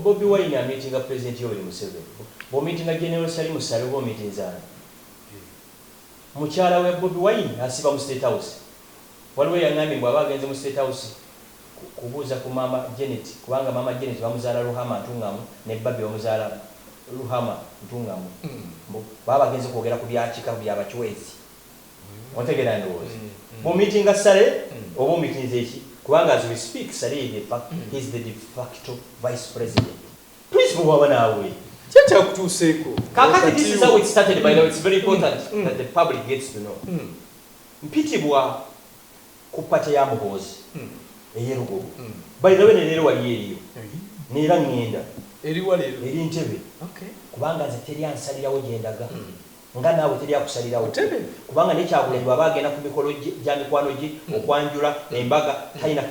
Bobi wine ameetinga president Yoweri Museveni, bwomeetinga General Salim Saleh oba omeetinze ani? Mukyala wa Bobi wine asiiba mu state house, waliwo eyangambye mbu aba agenze mu state house kubuuza ku maama Janet kubanga maama Janet bamuzaala Ruhama Ntungamo ne Barbie bamuzaala Ruhama Ntungamo, mbu baba bagenze kwogera ku bya kika bya bachwezi. Ontegera ndowooza bwo meetinga sale oba omitinze ki kubanga as we speak sale ye de fact he is the de facto vice president principle bwaba naawe ki ekyakutuuseeko kakati this is how it started by the way it's very important that the public gets to know mpitibwa ku party ya muhoozi eye lugogo by the way ne leero waliyo eriyo neera ngenda eri ntebe kubanga nze teri ansalirawo gyendaga. Nga naawe teri akusalirawo kubanga ne Kyagulanyi bwaba agenda ku mikolo gya mikwano gye, okwanjula, embaga talina.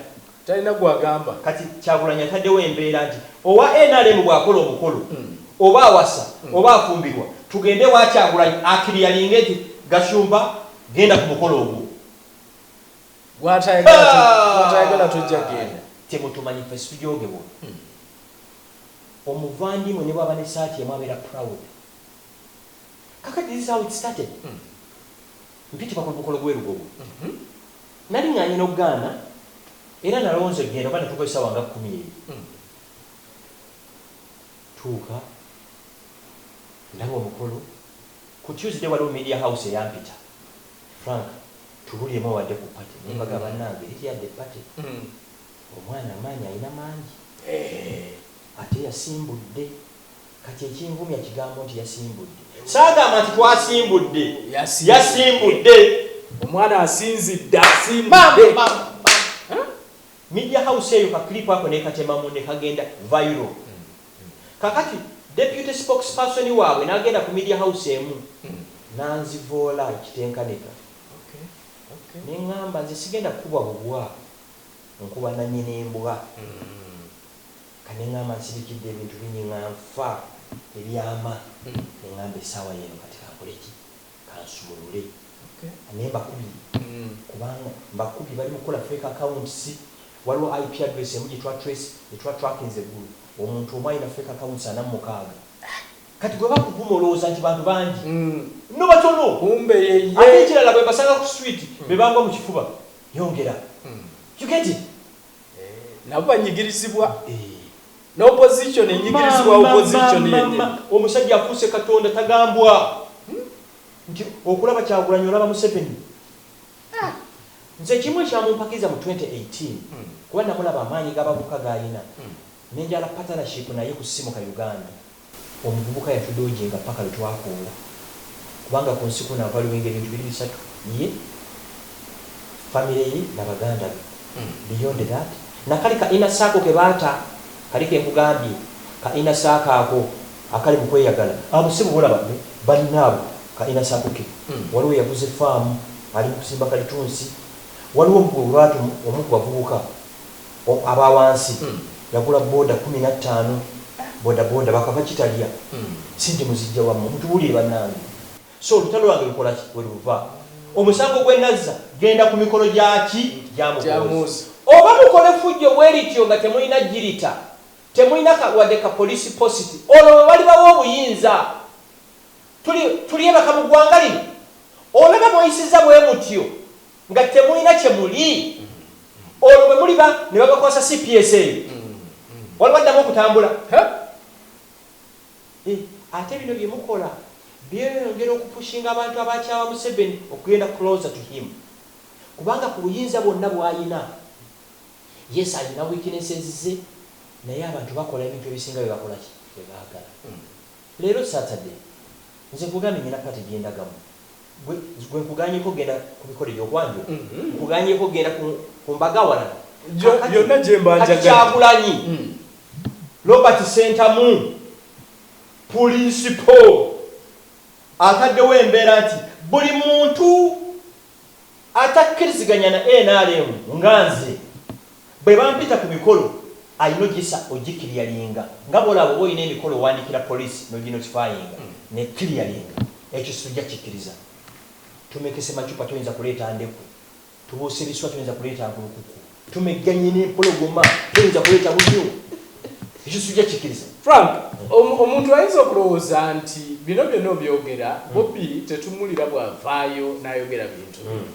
Talina gwagamba. Kati Kyagulanyi ataddewo embeera nti owa nrm bwakola omukolo oba awasa oba afumbirwa tugende ewa Kyagulanyi akiriyalinge nti Gashumba genda ku mukolo ogwo. Gwatayagala tojja genda. Temutumanyi ffe situjogebwa. Omuvandimwe ne bwaba ne saati emu abeera proud. Kakati this is how it started. Mpitibwa ku mukolo gw'e Lugogo. Naling'anye n'okugaana era nalonze okugenda kuba natuukayo ssaawa nga kkumi eyo. Ntuuka, ndaba omukolo. Ku Tuesday waliwo Media House eyampita, Frank tubulyemu obadde ku party? Ne mbagamba bannange liri yadde party, omwana amaanyi alina mangi ate yasimbudde. Kati ekinvumya kigambo nti yasimbudde. Saagamba nti twasimbudde. Yasimbudde. Omwana asinzidde asimbudde. Maama maama maama. Media house eyo ka clip ako nekatemamu nekagenda viral. Kakati deputy spokesperson waabwe nagenda ku media house emu nanzivoola ekitenkanika. Nengamba nze sigenda kukubwa bubwa nkuba nanyini mbwa. Kanengamba nsirikidde ebintu bingi nga nfa ebyama nengamba esaawa yeno kati kankoleki kansumulule naye mbakubye kubanga mbakubye bali mukukola fake accounts waliwo IP address emu gyetwa trace gyetwa trackinze eggulu omuntu omu alina fake accounts ana mumukaaga kati gwe bakuvuma olowooza nti bantu bangi no batono ate ekirala bwembasanga ku street bebangwa mukifuba yongera you get it. nabo banyigirizibwa ne opposition enyigirizibwa opposition yennyini. Omusajja afuuse katonda tagambwa nti okulaba kyagulanyi olaba museveni nze ekimu ekyamumpakiriza mu 2018 kuba namulaba amaanyi gabavuka gaalina nenjala partnership naye ku simu ka uganda. Omuvubuka yatudoojinga ppaka lwe twakoola kubanga ku nsi kuno avaliwenga ebintu biri bisatu, ye, famire ye na baganda be. Beyond that, na kale ka inner circle ke baata kali ke nkugambye, ka inner circle ako akali mu kweyagala, abo ssebo bolaba be balina abo ka inner circle ke. Waliwo eyaguze ffaamu ali mu kusimba kalitunsi, waliwo gwe bwe baata omu ku bavubuka, aba wansi yagula boda kumi na tano boda boda bakava ki talya sente muzijja wa mwe mutubuulire banange so olutalo lwange lukola ki weluva omusango gwe nazza genda ku mikolo gya ki gya muhoozi oba mukole fujjo bwelityo nga temulina jirita temulina ka wadde ka police post olwo bwe balibawa obuyinza tuli tulyebaka mu gwanga lino olaba mweyisizza bwemutyo. Nga temulina kye muli, olwo bwe muliba ne babakwasa cps eyo, waliwo addamu okutambula? Huh? Eh, ate bino bye mukola byeyongera okupushinga abantu abakyawa Museveni okugenda closer to him. Kubanga ku buyinza bwonna bw'alina, yes alina weaknesses ze, naye abantu bakola ebintu ebisinga bye bakola ki? Bye baagala. Leero Saturday nze nkugambye nina party gyendagamu gwe gwe nkuganyeko genda kubikole byo gwange nkuganyeko genda ku ku mbaga awalala kakati kati kyagulanyi Robert Ssentamu pulinsipo ataddewo embeera nti buli muntu Atakkiriziganya na nrm nga nze bwe bampita ku mikolo alina ogisa ogikiriyalinga nga bw'olaba oba olina emikolo owandiikira poliisi n'oginotifayinga n'ekkiriyalinga. Ekyo situjja kikkiriza. Tumekese macupa toyinza kuleeta ndeku, tubuuse biswa toyinza kuleeta nkulukuku. tumegganye n'empologoma toyinza kuleeta bunyu ekyo sijja kikiriza frank omuntu ayinza okulowooza nti bino byonna obyogera hmm. bobi tetumulira bwavaayo n'ayogera bintu hmm.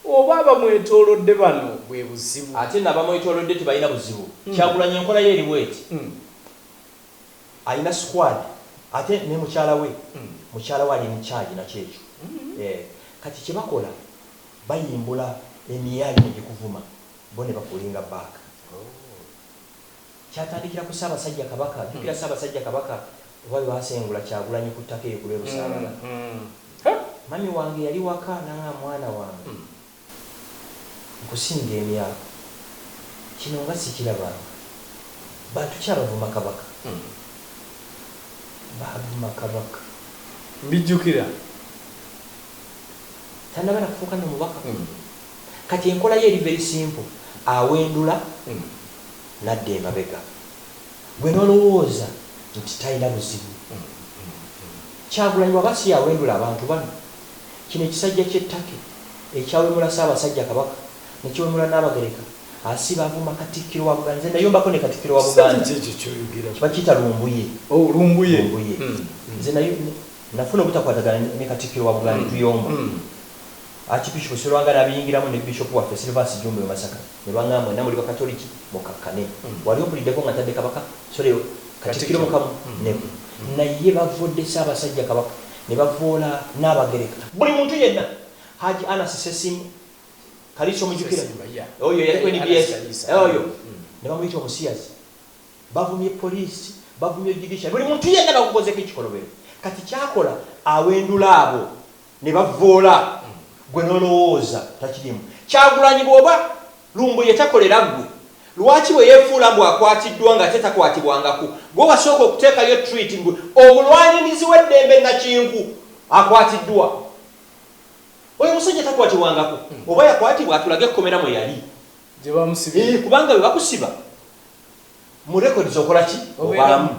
oba abamwetolodde bano bwe buzibu ate nabamwetolodde tebalina buzibu hmm. kyagulanya enkola ye eriwo eti alina squad ate ne mukyala we mukyala we ali mukyagi nakyekyo eh, kati kyebakola Bayimbula emiyaayu ne gikuvuma bo ne bakulinga back. Kyatandikira ku Ssaabasajja Kabaka. Jjukira Ssaabasajja Kabaka oba lwe baasengula Kyagulanyi ku ttaka eyo ku lw'e Busaabala. Mummy wange yali waka n'ang'amba, Mwana wange, nkusinga emyaka. Kino nga sikirabanga. Bantu ki abavuma Kabaka? Baavuma Kabaka. Mbijjukira. tanaba nakufuuka no mubaka kati enkola ye eri very simple awendula nadda emabega gwe nolowooza nti talina buzibu kyagulanyi bwaba siyawendula abantu bano kino ekisajja kye Turkey ekyawemula Ssabasajja kabaka nekiwemula Nabagereka asiba avuma katikkiro wa Buganda nze nayombako ne katikkiro wa Buganda bakiyita lumbuye lumbuye nze nayo Nafuna obutakwatagana ne Katikkiro wa Buganda Netuyomba Archbishop Sserwanga n'abiyingiramu ne Bishop waffe Silvansi Jjumba e Masaka ne bangamba mwenna muli Bakatoliki mukakkane. Wali ompuliddeko nga ntadde Kabaka, sorry, Katikkiro mu kamu ne ku. Naye bavvodde Ssaabasajja Kabaka ne bavvoola Nnaabagereka. Buli muntu yenna, Haji Anasi Ssessimba, Kaliisa omujjukira, oyo eyaliko nbs, oyo, ne bamuyita omusiyazi. Bavumye police, bavumye judiciary, buli muntu yenna bamukozeeko ekikolobero. Kati kyakola awendula abo ne bavvoola ggwe n'olowooza takirimu. Kyagulanyi bw'oba Lumbuye takolera ggwe, lwaki bwe yeefuula mbu akwatiddwa ng'ate takwatibwangako, gwe wasooka okuteekayo tweet mbu omulwanirizi w'eddembe Nakinku akwatiddwa? Oyo omusajja takwatibwangako. Oba yakwatibwa atulage ekkomera mwe yali. Gye baamusibira. Eeh kubanga we bakusiba. mu records okola ki obaamu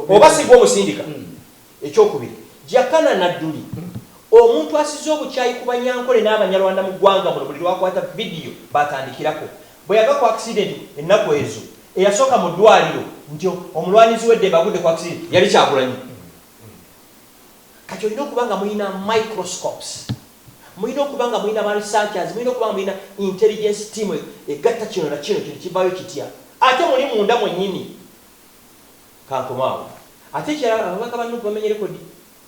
oba sigwa omusindika hmm. ekyokubiri jakana nadduli hmm. omuntu asize obukyayi ku banyankole n'abanyarwanda mu ggwanga muno buli lwakwata vidiyo batandikirako bwe yava ku akisidenti ennaku ezo eyasooka mu ddwaliro nti omulwanizi weddembe agudde ku akisidenti yali kyagulanyi hmm. kati olina okuba nga mulina microscopes Mulina okuba nga mulina ba researchers, mulina okuba nga mulina intelligence team egatta kino na kino, kino kivaayo kitya? Ate muli munda mwennyini. Kankome awo. Ate ekirala ababaka ba Nup bamenye record.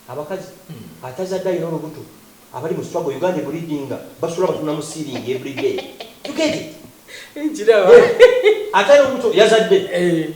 Abakazi, atazadde alina olubuto, abali mu struggle, Uganda e bleedinga, basula batunda mu ceiling every day. You get it? Nkiraba. Atalina lubuto yazadde.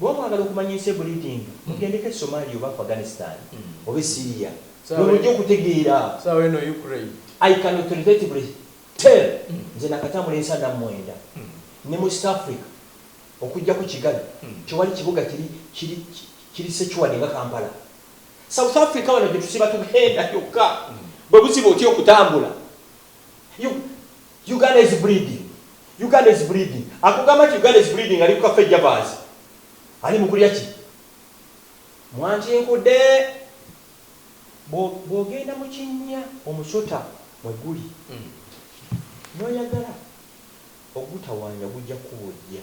Bwoba mwagala okumanya ensi ebulidinga mugendeko e Somalia oba Afghanistan oba e Syria lwemujja okutegeera. I can authoritatively tell nze nakatambula ensi ana mwenda ne mu East Africa okujjako Kigali tewali kibuga kiri kiri kiri secured nga Kampala. South Africa wano gyetusiba tugenda kyokka bwebuziba otya okutambula. Uganda is bleeding. Uganda is bleeding. Akugamba nti Uganda is bleeding ali ku kafe jabaazi. Ali mu kulya ki? Mwantinkude. Bw'ogenda mu kinnya omusota mwe guli n'oyagala ogutawaanya gujja kukubojja.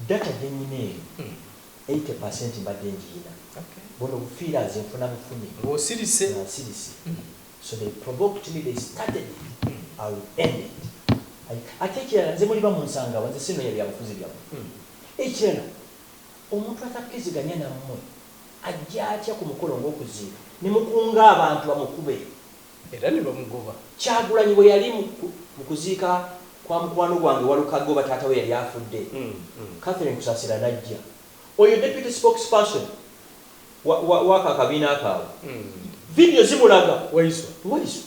Data gye nnina eno eighty percent mbadde ngirina. Buno bufiiraanzi nfuna bufunyi nga nsirise. So they provoked me, they started it, I will end it. Ate ekirala nze muliba munsangawa nze sinonya byabufuzi byamwe. Hmm. Ekirala omuntu atakkiziganya nammwe ajja atya ku mukolo ng'okuziika ne mukunga abantu bamukube era ne bamugoba. Kyagulanyi bwe yali mu kuziika kwa mukwano gwange Walukagga oba taata we yali afudde, hmm, hmm. Catherine Kusasira n'ajja. Oyo deputy spokesperson wa, wa, w'ako akabiina kaabwe. Vidiyo zimulaga, Waiswa. Waiswa.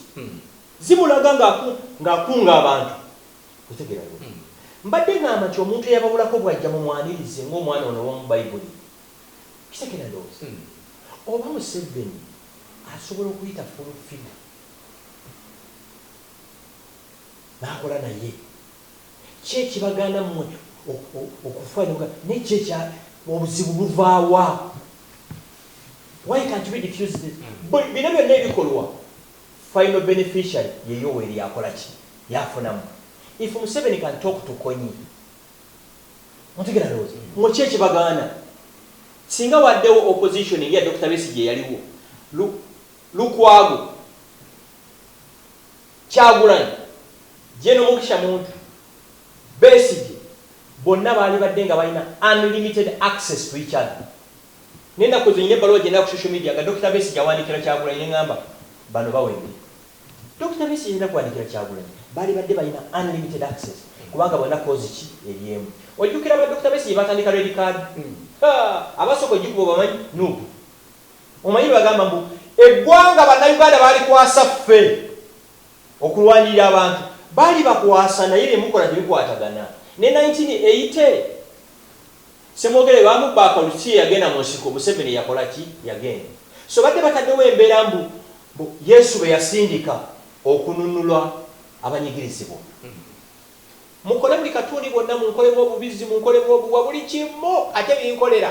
Zimulaga ng'aku, ng'akunga abantu. Otegeera, Lule? Mbadde ŋŋamba nti omuntu eyabawulako bw'ajja mumwanirize ng'omwana ono ow'omu Bayibuli. Okitegeera, ndowooza? Oba Museveni asobola okuyita Full Figure n'akola naye. Ki ekibagaana mmwe okufa ne muga naye ki ekya obuzibu buva wa? Why can't we diffuse this? Bwe bino byonna ebikolwa final beneficiary ye Yoweri yakola ki? Yafunamu? If Museveni can talk to Konyi mutegera ndowooza mmwe ki ekibagaana singa waddewo opposition eri ya Dokita Besigye eyaliwo Lu, Lukwago Kyagulanyi, Gen Mugisha Muntu, Besigye bonna baalibadde nga balina unlimited access to each other. Nenakoze nina ebbaluwa gyendaba ku social media nga Dokita Besigye awandiikira Kyagulanyi nengamba bano bawedde. Dokita Besigye talina kuwandiikira Kyagulanyi, baalibadde balina unlimited access kubanga bonna cause ki eri emu. Ojjukira ba Dokita Besigye baatandika Red Card? Haa abasooka ojikuba obamanyi? Nup. Omanyi bwebagamba mbu eggwanga banauganda balikwasa ffe okulwanirira abantu balibakwasa naye byemukola tebikwatagana ne 1980 semwogere bamubba akalulu kiki yeyagenda munsiko museveni yakolaki yagenda so badde bataddewo embeera mbu mbu yesu beyasindika okununula abanyigirizibwa mukole buli katundi bwonna munkolemu obubizzi munkolemu obuwa buli kimu ate binkolera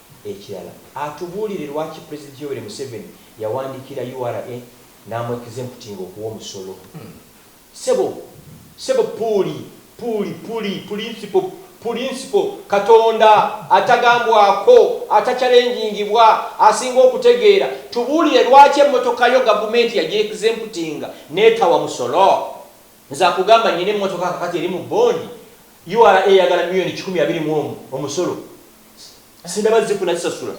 Ekirala atubuulire lwaki Pulezidenti Yoweri Museveni yawandiikira ura n'amu exemputinga okuwa omusolo. Ssebo, ssebo Puuli, Puuli, Puli, Pulinsipo, Pulinsipo, Katonda atagambwako, atachalengingibwa, asinga okutegeera, tubuulire lwaki emmotoka yo Gavumenti yagi exemputinga n'etawa musolo? Nze akugamba nnina emmotoka kakati eri mu bond, ura eyagala milioni kikumi abiri mu omu omusolo. sindaba zikuna kisasula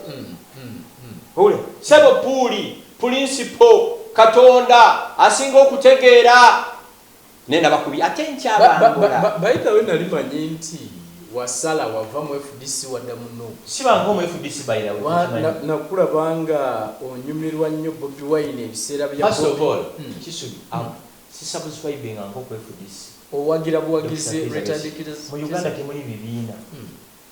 ule sebo puuli pulinsipo katonda asinga okutegeera naye nabakubi ate nkyababayidawe nali manyi nti wasala wava mu fdc wadda muno sibanga omu fdc nakulabanga onyumirwa nnyo bobi wine ebiseera bya sisubscribinga nko ku fdc owagira buwagizi mu uganda temuli bibiina hmm.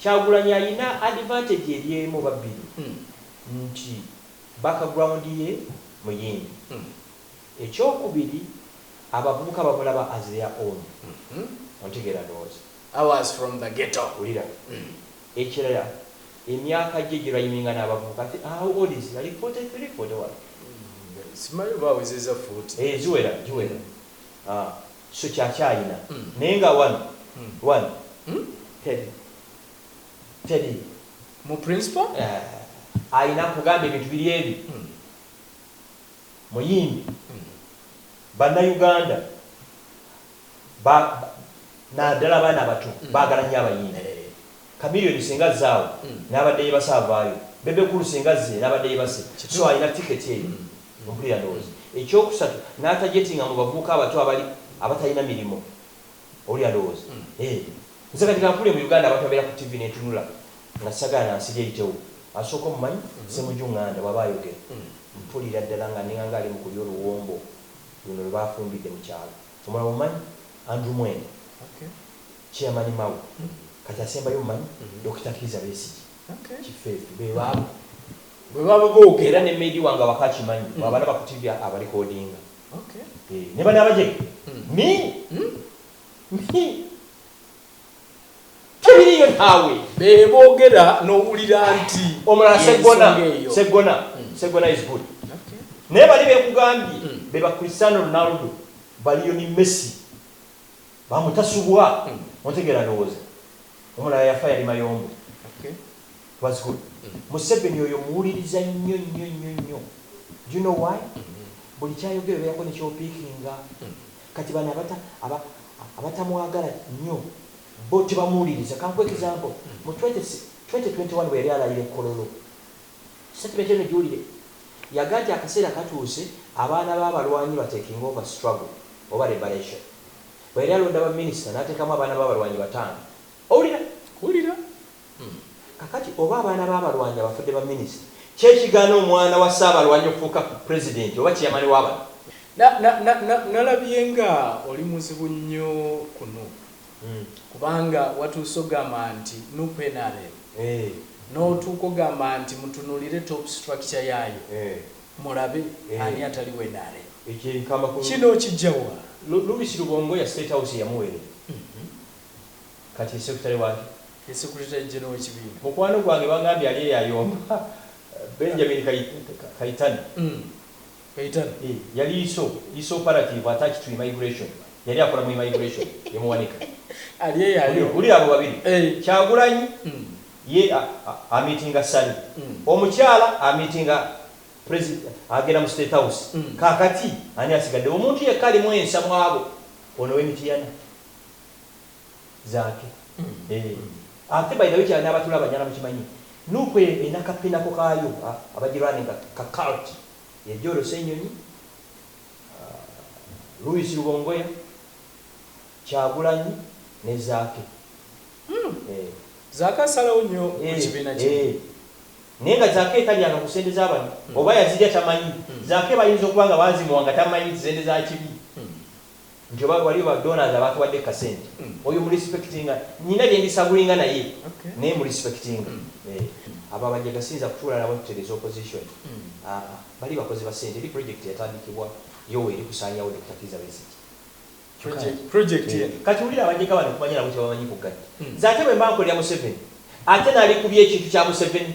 Kyagulanyi ayina advantage eri emu oba bbiri nti background ye muyimbi, ekyokubiri abavubuka bamulaba as their own ontegeera ndowooza. I was from the ghetto. Wulira, ekirala emyaka gye gyerhyiminga n'abavubuka, I think how old is he, ali forty three, forty one? Simanyi oba awezezza forty. Eeh ziwera, giwera. Haa kisuki akyalina naye nga one one teri teri. Mu principal? Eeh alina nkugambye ebintu biri ebi muyimbi banna Uganda ba nadala abaana abato bagala nyo abayimbi. Chameleon senga azze awo nabadde yebase avaayo, Bebe Cool senga azze nabadde yebase so alina ticket eyo mpulira ndowooza ekyokusatu natajetinga mu bavubuka abato abali abatalina mirimo owulira ndowooza eeh nze kati kampulire mu Uganda abantu abeera ku TV netunula nga sagala na nsiri eyitewo asooka omumanyi Ssemuju Nganda bwaba ayogera mpulira ddala nga ninganga ali mu kulya oluwombo luno lwebafumbidde mu kyalo omulala omumanyi Andrew Mwenda Chairman Mao kati asembayo omumanyi Dokita Kiiza Besigye kifefe bebabo bwebaba bogera. Era ne maid wange awaka akimanyi bwabalaba ku TV aba recordinga eeh ne bano abajega mi mi tebiriyo naawe. Bebogera nowulira nti Omulala Seggona yensonga eyo. Seggona Seggona is good naye bali bekugambye beba Cristiano Ronaldo baliyo ni Messi. Bamu tasubwa ontegera ndowoza omulala yafa yali mayombo was good museveni oyo muwuliriza nnyo nnyo nnyo nnyo do you know why buli kyayogera obeerako ne kyopikinga kati bano abata aba abatamwagala nnyo bo tebamuwuliriza kankuwe example mu twenty twenty one bweyali alayira e kololo Statement eno giwulire. Yaga nti akaseera katuuse abaana b'abalwanyi ba taking over struggle oba liberation. Bwe yali alonda ba minister n'ateekamu abaana b'abalwanyi bataano. Owulira? Nkuwulira. Kakati oba abaana b'abalwanyi abafudde ba minister, ki ekigaana omwana wa ssaabalwanyi okufuuka president oba chairman wa bano? Na, na, na, na, nalabye nga oli muzibu nnyo ku Nup. Kubanga watuuse ogamba nti nup nrm notuuka ogamba nti mutunulire top structure yaayo mulabe ani atali we nrm. Kino okijja wa? Lubisi lubongo ya state house yamuwerera kati ye secretary waki? Ye secretary general wekibiina. Mukwano gwange bangambye ali eyo ayomba Benjamin kayitana. Kayitare yali iso iso operativu attached to immigration yali akola mu immigration ye muwanika. Ali eyo ali Wulira wulira abo babiri Eeh. Kyagulanyi Mm. ye a a amitinga Ssali Mm. omukyala amitinga presi agenda mu state house Mm. kakati ani asigaddewo omuntu yekka alimu ensa mwabo ono we Mityana. Zaake eeh ate by the way kya nabatula abanyala mukimanyi nup elina ka pinako kaayo abaji runninga ka cult ye joro senyonyi, Louis lubongoya, kyagulanyi ne zaake eeh. Zaake asalawo nyo ku kibiina kino. Eeh eeh naye nga zaake talyanga ku sente zabano oba yazilya tamanyi zaake bayinza okuba nga bazimuwa nga tamanyi sente za kibi. nti oba waliyo ba donors abatuwadde ku kasente oyo mu respectinga nina byendisagulinga naye naye mu respectinga eeh abo abajjaga siyinza kutuula nabo tutereze opposition aah bali bakozi ba sente eri project yatandikibwa yowa eri kusanyawo Dokita Kiiza Besigye project eeh eno. Kati wulira abajega bano kumanya nabo kyebamanyi ku gaddi nze ate bwemba nkolera museveni ate nalikubya ekintu kya museveni.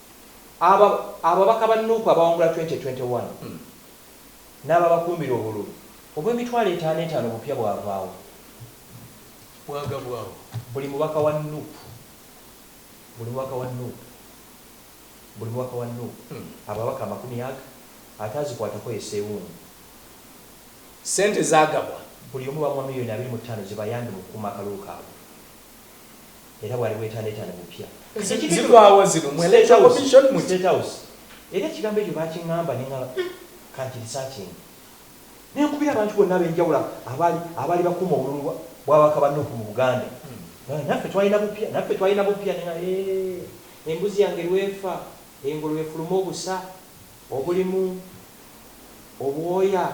Abo ababaka ba Nup abawangula twenty twenty one n'ababakuumira obululu obw'emitwalo etaano etaano obupya bwavaawo, bwagabwawo buli mubaka wa Nup, buli mubaka wa Nup, buli mubaka wa Nup ababaka amakumi ag ataazikwatako ye Ssewungu. Ssente zaagabwa. Buli omu bamuwa million abiri mu ttaano zibayambe mu kukuuma akalulu kaabwe. era bwali bwetanetane bupya. Zigwawa zino mwe electoral commission muki? State house era ekigambo ekyo bakingamba nengamba uhmm kankiresearchinge nenkubira abantu bonna abenjawulo abaali abaali bakuuma obululu bwa bwababaka ba Nup mu Buganda nengamba naffe twalina bupya naffe twalina bupya nengamba eeh embuzi yange lwefa engulu efulume obusa obulimu obwoya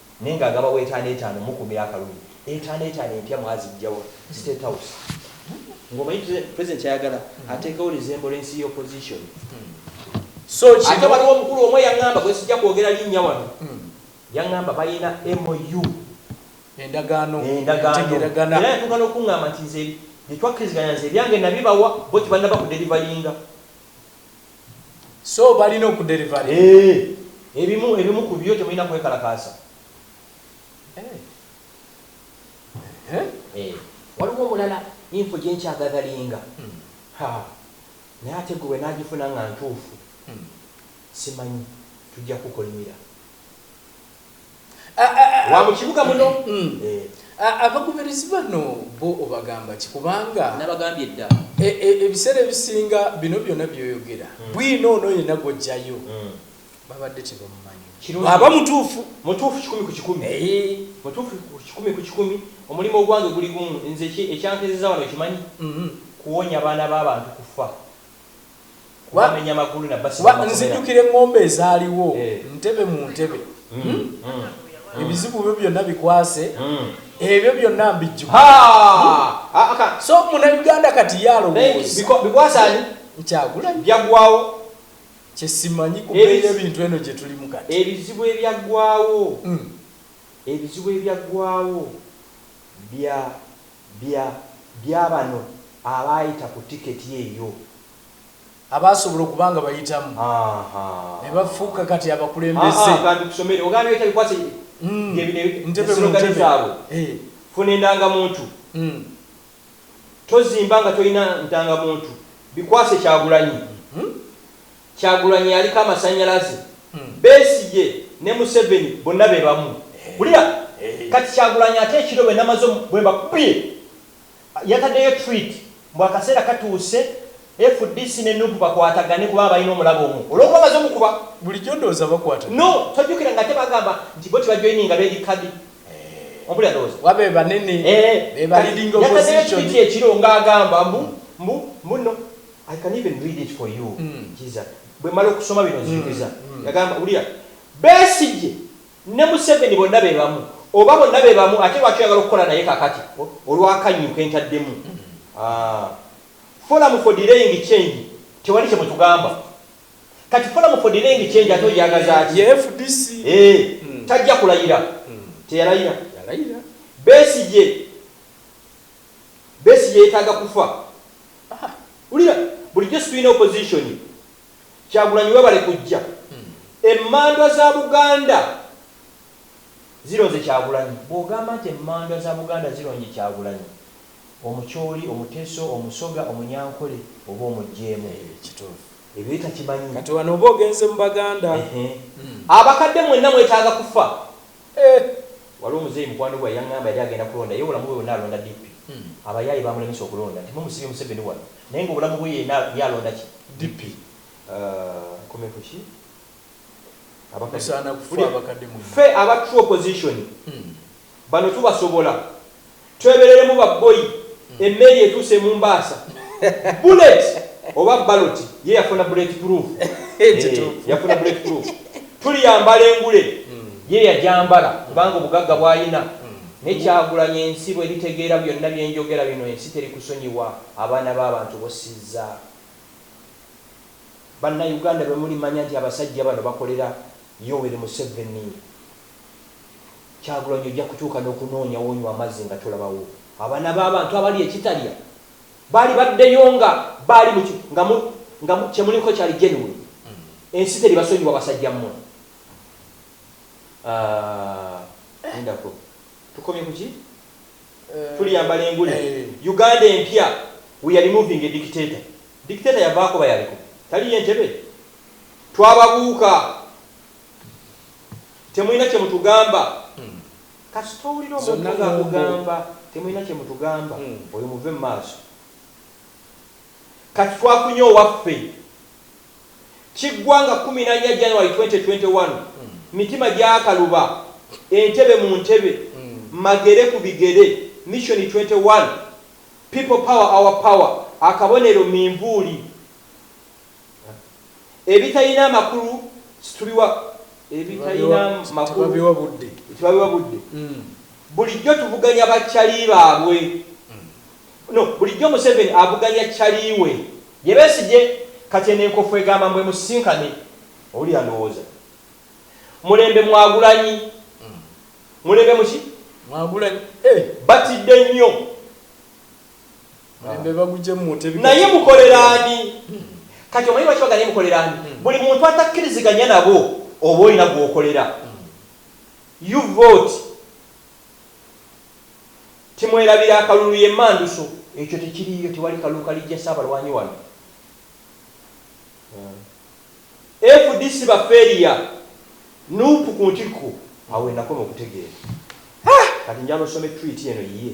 Naye nga agabawa etaano etaano mukumira akalulu etaano etaano empya mwazijjawa mu state house nga omanyi president kyayagala atekewo luzembo lwensi ya opposition so ate waliwo omukulu omu eyangamba gwesijja kwogera linnya wano yangamba balina MOU endagaano entegeragana era yatuuka n'okungamba nti nze byetwakkiriziganya nze ebyange nabibawa bo tebanaba ku delivalinga so balina okudelivalinga eh, ebimu ebimu ku byo temulina kwekalakaasa eh. Eh. waliwo omulala info gyenkyagagalinga hmm. naye ate gwe wenagifuna nga ntuufu hmm. simanyi tujja kukolimira wa mu kibuga muno mm. eh. abagoberezi bano bo obagamba ki kubanga nabagambye dda e, e, ebiseera ebisinga bino byonna byoyogera mm. bwino ono yena gwojjayo mm. babadde tebamumanyi aba mutuufu mutuufu kikumi ku kikumi eh. mutuufu kikumi ku kikumi omulimu ogwange guli gumu nze ekyankezeza wano kimanyi mm-hmm. kuwonya baana b'abantu kufa kuba nzijukira eŋŋombo ezaaliwo eh. ntebe mu ntebe mm, hmm? mm. ebizibu byo byonna bikwase mm. ebyo byonna mbijjuka hmm? so munauganda kati yalowoozabikwasani nkyagulanyi byaggwawo kyesimanyi kubeera ebintu eno gye tulimu kati ebizibu ebyaggwawo hmm. ebizibu ebyaggwawo bya bya byabano abaayita ku ticket eyo. Abaasobola okuba nga bayitamu ne bafuuka kati abakulembeze. Haa kantu kusomere ogana noyita bikwate bye bino ne slogan zaabwe funa endangamuntu tozimba nga tolina ndangamuntu bikwase kyagulanyi. Kyagulanyi yaliko amasanyalaze, Besigye ne Museveni bonna bebamu. Wulira Kati Kyagulanyi ate ekiro bwenamaze omu bwembakubye yatadeyo treat mbu akaseera katuuse fdc ne Nup bakwatagane kubanga balina omulabe omu olwokuba amaze omukuba. Bulijjo ndowooza bakwatagana. No tojjukira nga ate bagamba nti bo tebajoininga bedi kadi ompulira ndowooza. Kuba bebanene Eeh be ba kati leading yatadeyo opposition. treat ekiro nga agamba mbu mbu mbu no. I can even read it for you Jesus bwemala okusoma bino nzijukiza yagamba wulira Besigye ne Museveni bonna bebamu oba bonna bebamu ate lwaki oyagala okukola naye kakati olwakannyu kentaddemu aah Forum for delaying change tewali kyemutugamba kati Forum for delaying change ate ogyagazaaki eeh tajja kulayira teyalayira Besigye. Besigye yetaaga kufa haa wulira bulijjo situlina opposition kyagulanyi webale kujja emandwa za buganda zironze kyagulanyi bwogamba nti emandwa za buganda zironye kyagulanyi omucholi omuteso omusoga omunyankole oba omujjeemu ebyo ye takimanyi kati wano oba ogenze mu baganda ehe abakadde mwena mwetaaga kufa Eeh waliwo muzeeyi mukwano gwe yangamba yali agenda kulonda ye obulamu bwe bwonna alonda DP abayaaye bamulemesa okulonda nti mumusibye museveni wano naye nga obulamu bwe yena ye alonda ki DP aah nkomye ku ki abakadde ffe aba true opposition bano tubasobola. Twebereremu ba bboyi emmeeri etuuse e Mumbaasa. Bullet oba ballot ye yafuna bullet proof. Eeh yafuna bullet proof. Tuliyambala engule ye yagyambala kubanga obugagga bwalina. Naye Kyagulanyi ensi bweritegeera byonna byenjogera bino ensi terikusonyiwa abaana b'abantu bossizza. Banna Uganda lwemulimanya nti abasajja bano bakolera Yoweri Museveni. Kyagulanyi ojja kutuuka nokunoonya wonywa amazzi nga tulabawo. Abaana babantu abalya ekitalya baali baddeyo nga baali mu nga mu nga mu kyemuliko kyali genuine. Ensi teribasonyiwa basajja mmwe. Aah lindako tukomye kuki? Tuliyambala engule. Uganda empya we are removing a dictator. Dictator yavaako oba yaliko? Tali ye Ntebe? Twababuuka. temulina kyemutugamba hmm. kasita owulira omuntu nga akugamba temulina kyemutugamba hmm. oyo muve mumaaso kati twafunye owaffe kiggwanga 14 january 2021 hmm. mitima gyakaluba entebe mu ntebe magere ku bigere mission 21 people power our power akabonero minvuuli Ebitalina amakulu situbiwa ebitalina makulu tebabiwa budde. Mm. Bulijjo tuvuganya ba cali baabwe. Mm. No, bulijjo Museveni avuganya cali we. Ye Besigye kati eno enkofu egamba mbu emusisinkane. Oli alowooza mulembe mwagulanyi mm. mulembe muki mwagulanyi eh. batidde nnyo. naye mukolera ani kati omanyi lwaki baganaye mukolera ani hmm. buli muntu atakkiriziganya nabo oba olina gwokolera hmm. you vote timwerabira akalulu yemanduso ekyo tekiriyo tewali kalulu kalijja saabalwanyi wano hmm. fdc baferiya nupu ku ntikko awenakoma okutegeera kati njala osome twit eno yiye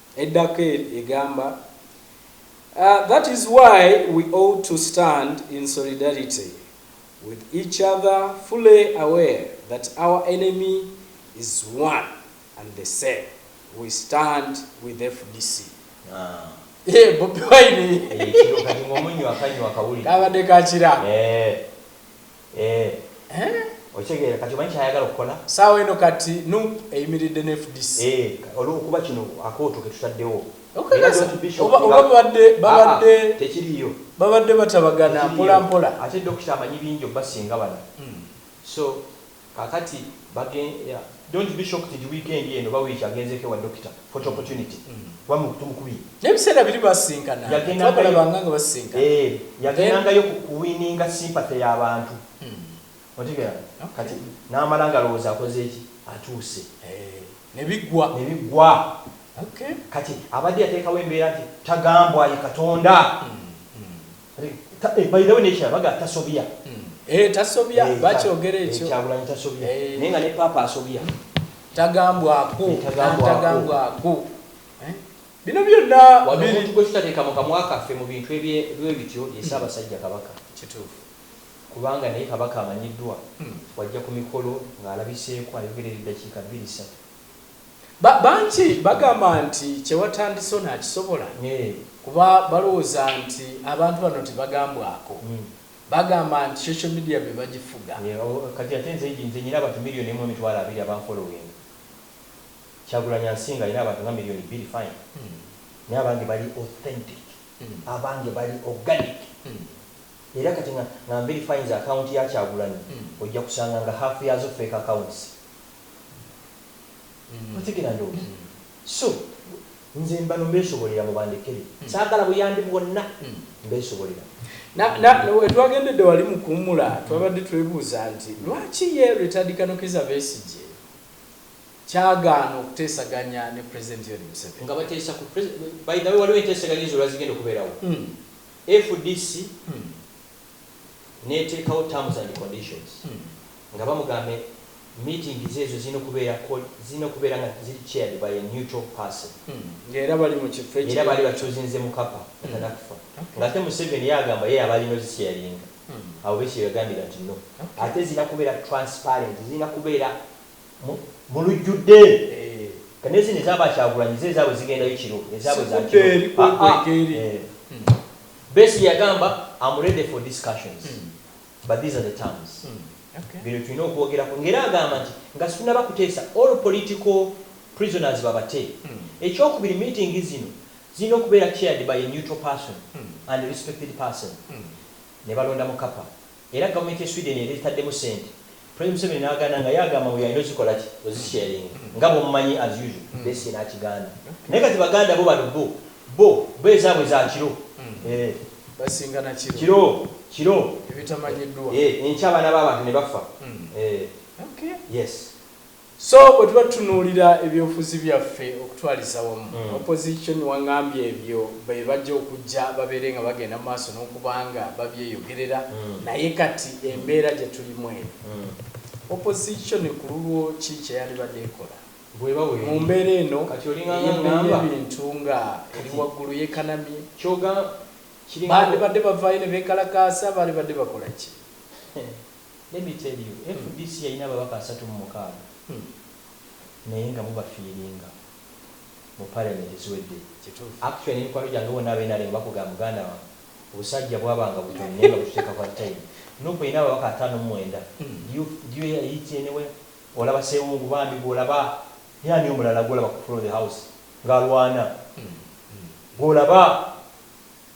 Edda kel egamba a that is why we ought to stand in solidarity with each other fully aware that our enemy is one and the same we stand with fdc Eeh bobi wine Eeh kino kati nga omunywa akanywa akawulidde kabadde ka kira. Eeh. Eeh okitegeera kati omanyi kyayagala okukola? Saawa eno kati nup eyimiridde ne fdc. Eeh olwokuba kino akooto ketutaddewo. Okakasa oba oba babadde babadde tekiriyo babadde batabagana mpola mpola. Ate Dokita amanyi bingi obbasinga bano so kakati bagen don't be shocked nti weekend eno oba wiiki agenzeeko ewa Dokita. Photo opportunity kuba mu kutu mukubi. Naye ebiseera biri baasisinkananga, twabalabanga nga basisinkana. Eeh yagendangayo kuwininga sympathy ya bantu. Otegeera? Kati n'amala ng'alowooza akoze ki? Atuuse. Ne biggwa. Ne biggwa. Kati abadde yateekawo embeera nti tagambwa ye Katonda. Eh, by the way nekya baga tasobya eh tasobya eh, bakyogera ekyo eh, kyagulanyi tasobya eh. naye nga ne papa asobya tagambwako tagambwako bino byonna omuntu gwe tutateeka mu kamwa kaffe mu bintu ebityo ye ssaabasajja kabaka kituufu kubanga naye kabaka amanyiddwa hmm. wajja ku mikolo ng'alabiseeko ayogera eddakiika bbiri ssatu Ba, bangi bagamba nti kye watandise onaakisobola, kuba balowooza nti abantu bano tebagambwako. Bagamba nti social media be bagifuga. Yee, o, kati ate nze, nze nnina abantu million emu emitwalo abiri abanfollowinga. Kyagulanyi ansinga, alina abantu nga million bbiri, fine. Naye abange bali authentic. Abange bali organic. Era kati nga, nga nverifyinze account ya Kyagulanyi, ojja kusanga nga half yaazo fake accounts. otegera ndowooza so nze mbano mbesobolera mubandekere sagala buyambi bwonna mbesobolera wetwagendedde wali mukuwumula twabadde twebuuza nti lwaki ye retired kano kiza besigye kyagaana okuteesaganya ne president yoweri museveni nga bateesa ku president by the way waliwo enteeseganya ezo lwazigenda okubeerawo fdc neteekawo terms and conditions nga bamugamba meeting ze ezo zirina okubeera zirina okubeera nga ziri chaired by a neutral person nga era bali mu kifo ekiri era baali bachuzinze mukapa nga tanakufa nga ate museveni ye agamba ye yaba alina ozisharinga abo besigye yagambye that no ate zirina kubeera transparent zirina kubeera mu lujjudde kane zino eza ba kyagulanyi ze ezaabwe zigendayo kiro ezaabwe za kiro besi yagamba am ready for discussions mm. but these are the terms mm. okay. bino tulina okwogerako ngaera agamba nti nga situnaba kuteesa all political prisoners babate mm. ekyokubiri meeting zino zirina okubeera chaired by a neutral person mm. and respected person mm. ne balonda mukapa Era government ye Sweden yali ezitaddemu sente President Museveni nagaana nga ye agamba mbu yalina ozikolaki ozi sharinga nga bwomumanyi as usual Besigye nakigaana naye kati baganda bo bano bo bo bo ezabwe za kiro eeh kiro kiro eeh enkya abaana babantu nebafa eeh yes So bwe tuba tutunuulira ebyobufuzi byaffe okutwaliza wamu, opposition wangambye ebyo be bajja okujja babeere nga bagenda mu maaso n'okuba nga babyeyogerera naye kati embeera gye tulimu eno, opposition ku lulwo ki kye yandibadde ekola mu mbeera eno ey'ebbeeyi y'ebintu nga eri waggulu yekanamye? Bandibadde bavaayo ne beekalakaasa? Bandibadde bakola ki? Let me tell you fdc yalina ababaka asatu mu mukaaga naye nga mubafiiringa mu parliament eziwedde. Kituufu. Actually ne mikwano gyange bonna aba nrm bakugamba muganda wange obusajja bwabanga butono naye nga bututeeka kwa time. Nup erina ababaka ataano mu mwenda do you do you hear it anywhere? Olaba ssewungu bambi gwolaba ye ani omulala gwolaba ku floor of the house nga alwana gwolaba?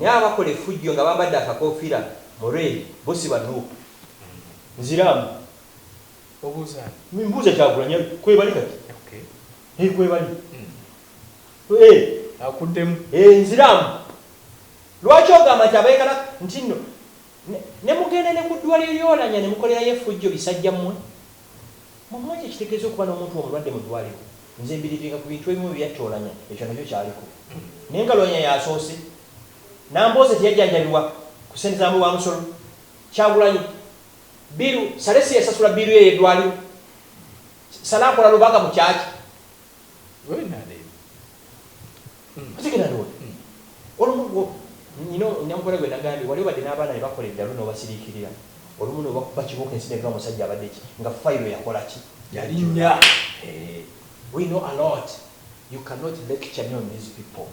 Naye abakola efujjo nga bambadde akakofira mu red bo siba nup? Nziramu. Obuuza ani? Mbuuza kyagulanyi kwebali kati eeh kwebali eeh. Akuddemu. Eeh nziramu. Lwaki ogamba nti abayagala ntinno. Ne, ne mugenda ne ku ddwaliro ly'e Olanya ne mukolerayo effujjo, bisajja mmwe? Mmwe mumanyi kye kitegeeza okuba n'omuntu omulwadde mu ddwaliro? Nze mbirivinga ku bintu ebimu bye yatta Olanya, ekyo nakyo kyaliko. Naye nga Lwanya y'asoose. Nambooze teyajjanjabibwa ku ssente za muwi wa musolo? Kyagulanyi, bbiiru, Saleh si yasasula bbiiru ye ey'eddwaliro? Saleh akola Lubaga mu kyaki? Webinaadeeba. otegera ndowoza olumu nyina nyamukole gwe nagambye wali obadde n'abaana be bakola eddalu n'obasiriikirira olumu n'obakuba kibooko ensi n'eva musajja abadde ki nga fayiro yakola ki yalinnya eh, we know a lot you cannot lecture me on these people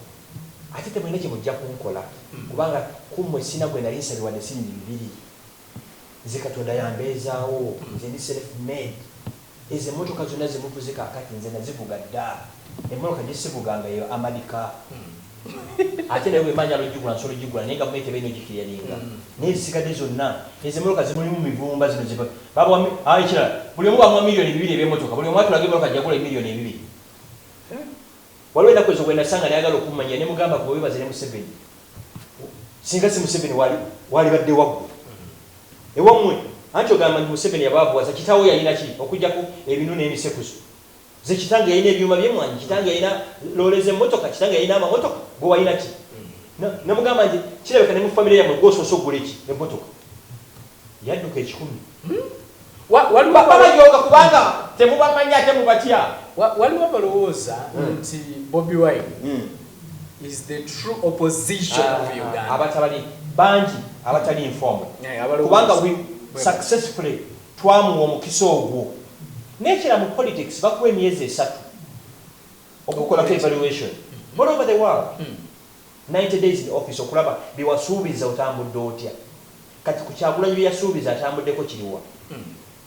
ate temulina kye mujja kunkola kubanga ku mmwe sina gwe nali nsabye wadde siribi bibiri Nze katonda yambeezaawo nze ndi self made ezo emotoka zonna zemuvuze kakati nze nazivuga ddaa emonoka gyesivuga nga ye amadi car ate naye bwemba njala ojigula nsobola ojigula naye gavumenti eba erina ojikiriyaninga naye ezisigade zonna ezo emonoka zimulimu mivumba zino ze babawa ayi kirala buli omu bamuwa milioni bibiri ebyemotoka buli omu atulaga emonoka gyeyagula emilioni ebibiri waliwo enaku ezo gwenasanga nayagala okummanyira nemugamba gwe webaze ne museveni singa si museveni wali walibadde waggwe ewamwe anti ogamba nti museveni yabaavuwaza kitaawo yalina ki okujjako ebinu n'emisekuzo ze kitange yalina ebyuma byemwanyi kitange yalina loole z'emmotoka kitange yalina amamotoka gwe walina ki namugamba nti kirabika ne mu famire yamwe gwosoose okugula eki emmotoka Yadduka ekikumi. Wa, waliwo Ba, abalo, babajooga kubanga temubamanyi ate mubatya. wa, waliwo abalowooza nti Bobi Wine Mm. is the true opposition of Ah, Uganda. abatabali bangi abatali informed Eh, abalowooza. kubanga we Bwe- successfully twamuwa omukisa ogwo nekira mu politics bakuwa emyezi esatu okukolako evaluation all over the world Ninety days in office okulaba byewasuubiza otambudde otya? Kati ku kyagulanyi byeyasuubiza atambuddeko kiriwa?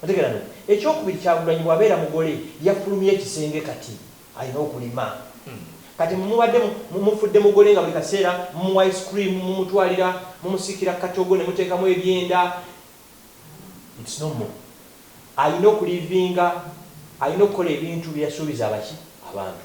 Otegeera no? Ekyokubiri kyagulanyi bwabeera mugole yafulumye ekisenge kati Alina okulima Kati mwe mubadde mumufudde mugole nga buli kaseera mumuwa ice cream mumutwalira mumusikira katogo nemuteekamu ebyenda it's no more Alina okulivinga Alina okukola ebintu byeyasuubiza abaki? Abantu.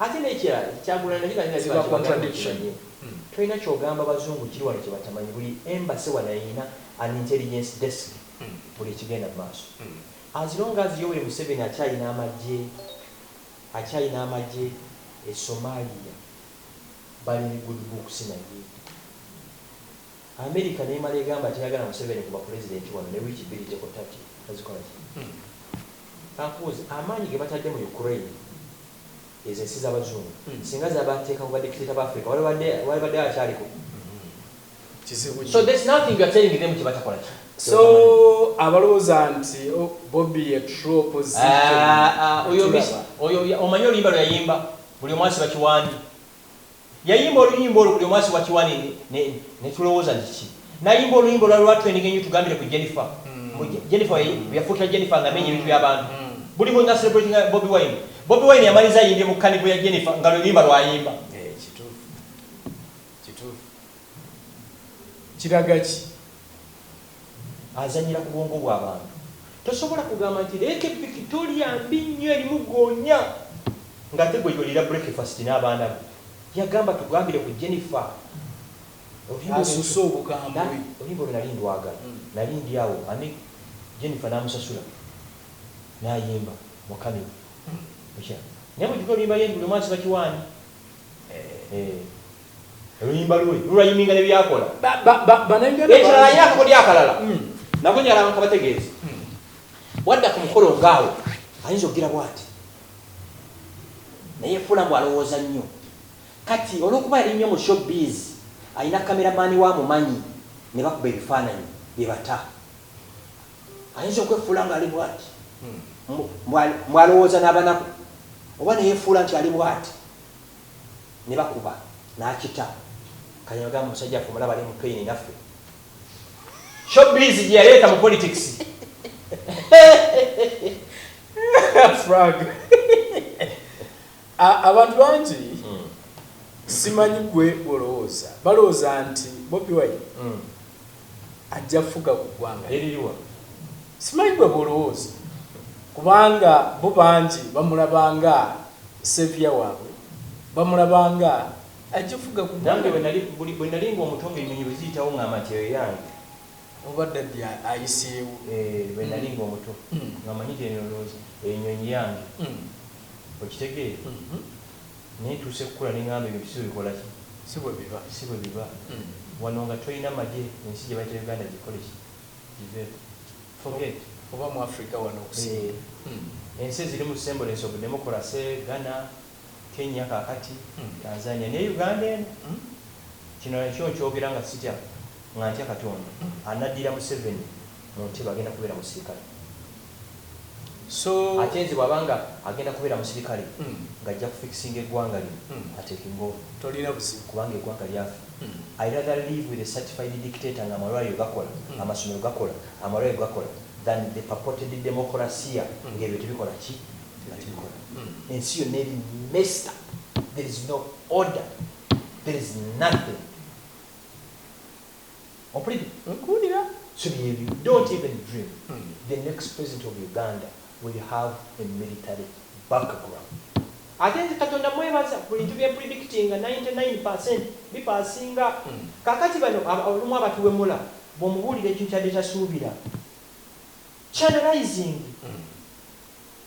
Ate nekirala kyagulanyi na Kibaki nabyo Ziba bakiwagana contradiction. mukimanye tolina kyogamba bazungu kiri wano kyebatamanyi buli embassy wano elina an intelligence desk buli ekigenda mumaaso as long as yoweri museveni akyalina amagye akyalina amagye e somalia bali ne good books naye America nemala egamba teyagala museveni ku bwa pulezidenti wano ne wiiki bbiri tekutta ki bazikola ki? Kankubuuze amaanyi gebatadde mu Ukraine ezo ensi zabazungu singa zabateeka ku ba dictator ba Africa walibadde walibadde akyali ku Kizibu nnyo. So there's nothing you're telling them kyebatakola ki? So abalowoza nti oh bobi ye true opposition Aah oyo miss tulaba. oyo omanyi oluyimba lweyayimba buli omu asiba kiwani. Yayimba oluyimba olwo buli omu asiwa kiwa ne ne ne tulowoza nti ki. Nayimba oluyimba olwali lwa trending enyo tugambire ku Jennifer mbu Jennifer we yafukira Jennifer nga amenya ebintu bya bantu. Buli mu nga celebratinga Bobi Wine. Bobi Wine yamaliza ayimbye mu kanivo ya Jennifer nga lwe luyimba lwayimba. Eeh kituufu kituufu. Kiraga ki? Azanyira ku bwongo bwa bantu. Tosobola kugamba nti Lake Victoria mbi nnyo erimu goonya nga ate gwe oliira breakfast n'abaana bo. Yagamba tugambire ku Jennifer. Olimba osusse obukambwe. Olimba olwo nali ndwagala. Nali ndi awo ani Jennifer n'amusasula n'ayimba mu camera. Okiraa. Naye mujjukire oluyimba ye nti buli omu asiba kiwaani. Eeh. Oluyimba lwe lulayiminga ne byakola. Ekirala alina akakodyo akalala nako njagala nkabategeeze. Bw'adda ku mukolo ng'awo ayinza okugira bw'ati ne yeefuula mbu alowooza nnyo. Kati olw'okuba yali nnyo mu showbiz, alina kkameramaani we amumanyi ne bakuba ebifaananyi bye bata. Ayinza okwefuula ng'ali bw'ati mbu alowooza n'abanaku oba ne yeefuula nti ali bw'ati. nebakuba nakita kati nogamba omusajja waffe omulaba ali mu pain naffe show biz gyeyaleeta mu politics frag abantu bangi hmm. simanyi gwe olowooza balowooza nti bobi wine hmm. ajja fuga ku gwanga eririwa simanyi gwe bwolowooza kubanga bo bangi bamulaba nga savior wabwe bamulaba nga ajja fuga ku nange bwenali nga omuto nga enyonyi bweziyitawo ngamba nti eyo yange oba daddy ayiseewo eh, bwenali nga omuto mm. nga manyi tenolowooza enyonyi yange mm. okitegeera mm-hmm. Naye ntuuse kukula nengamba ebintu si bwebikolaki si bwebiba si bwebiba wano nga toyina magye ensi gyebayita Uganda gikoleki giveeko forget. Oba mu Africa wano okusinga. Ensi ezirimu semblence of democracy Ghana, Kenya kakati Tanzania ne Uganda eno. Kino nakyo nkyogera nga sitya nga ntya katonda anaddira museveni muntebe agenda kubeera musirikale. so. Ate nze bwaba nga agenda kubera musilikale nga ajja ku fixinga egwanga lino ateeke ng'ono Tolina buzibu. kubanga egwanga lyafe I rather live with a certified dictator nga amalwaliro gakola, amasomero gakola, amalwaliro gakola than the purported demokolasiya nga ebyo tebikola ki? nga tebikola. Ensi yonna eri messed up there is no order there is nothing. Ompulide nkuwulira so byebyo don't even dream the next president of Uganda will have a military background ate nze katonda mwebaza buli ntu byenpredictinga ninety nine percent bipasinga kakati bano olumu abatuwemula bwomubuulira ekintu kyabadde tasuubira channelizing.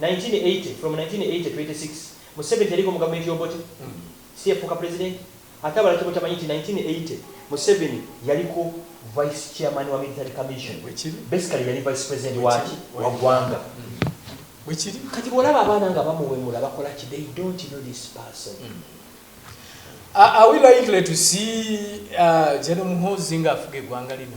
1980 from 1980 to 86 museveni teyariko mu gavumenti y'obote si yafuuka president ate abalala kyebatamanyi nti 1980 museveni yaliko vice chairman wa military commission basically yali vice president waki wa gwanga Bwekiri. Kati bwolaba abaana nga bamuwemula bakola ki they don't know this person. Mm. Are we likely to see uh, General Muhoozi nga afuga eggwanga lino?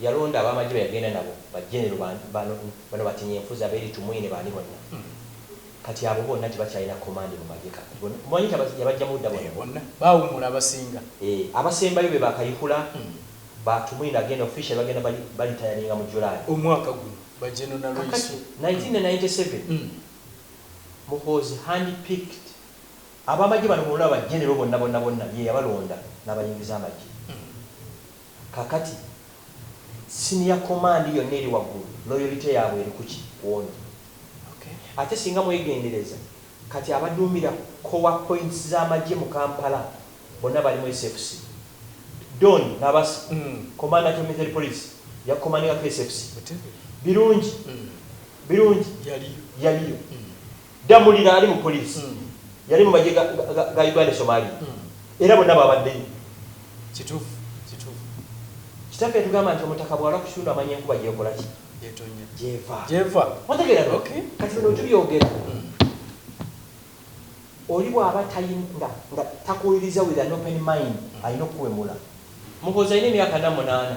Yalonda abamagye beyagenda nabo ba genero bano batinye nfuza beri tumwine bani bonna Kati abo bonna tebakyalina command mu magye Kati bonna omanyi nti yabajjamu dda bonna bonna bawumula abasinga eeh abasembayo be ba kayihura ba tumwine agenda officially bagenda ba litayaringa mu July omwaka guno ba General Nalweyiso Kakati nineteen and ninety seven Muhoozi hand picked abamagye bano bonna ba genero bonna bonna bonna ye yabalonda nabayingiza amagye Kakati senior command yonna eri waggulu loyalty yabwe eri kuki kwono? Okay ate singa mwegendereza kati abaduumira core points z'amagye mu Kampala bonna bali mu SFC? Don Nabasa commander to military police ya commandingako SFC? Birungi Birungi yaliyo? Ddamulira ali mu poliisi, yali mu magye ga ga Uganda e Somalia era bonna baabaddeyo. Kituufu, kituufu. Kitaffe yatugamba nti omutaka bw'alwa ku kitundu amanya enkuba gy'ekola ki? Gy'etonnya. Gy'eva. Gy'eva. Otegeera no? Okay. Kati bino bwe tubyogera, oli bw'aba tayi, nga, nga takuwuliriza with an open mind, alina okukuwemula. Muhoozi alina emyaka ana mu munaana.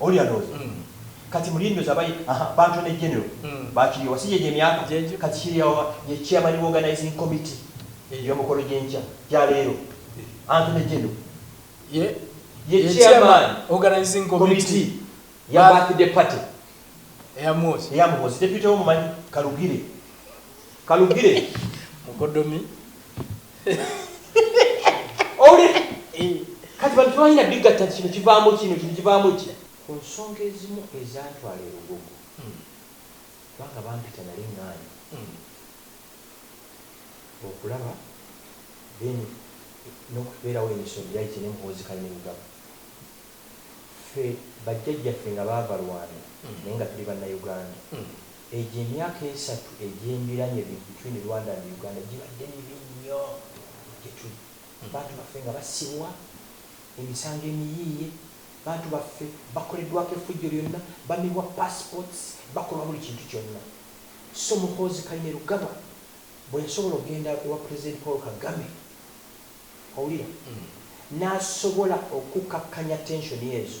Oli alowoza Kati mulindoozi abaye ahaa bantu ne general bakiriwa si gyegyo emyaka Kati kiriwa ye chairman wa organizing committee yomukolo gyenkya gya leero antu ne general ye ye chairman organizing committee ya birthday party eya muhozi eya muhozi deputy wo mumanyi kalugire kalugire mukodomi owulira eh, kati bantu tebalina bigatta nti kino kivaamu kino kino kivaamu ki ku nsonga ezimu ezantwala erugogo hmm. kubanga bampita nali ngaani hmm. okulaba then nokubeerawo emisomi yali kyenemuhozikali nemugaba ffe bajjajjaffe nga baava lwanda hmm. naye nga tuli bannauganda Egyo emyaka esatu egyembiranye be between Rwanda and Uganda gibadde mibi nnyo gyetuli. Bantu baffe nga basibwa, emisango emiyiiye, bantu baffe bakoledwako effujjo lyonna, bamibwa passports, bakolwa buli kintu kyonna. So Muhoozi Kainerugaba bwensobola okugenda ewa President Paul Kagame, owulira, nasobola okukakkanya tension ezo,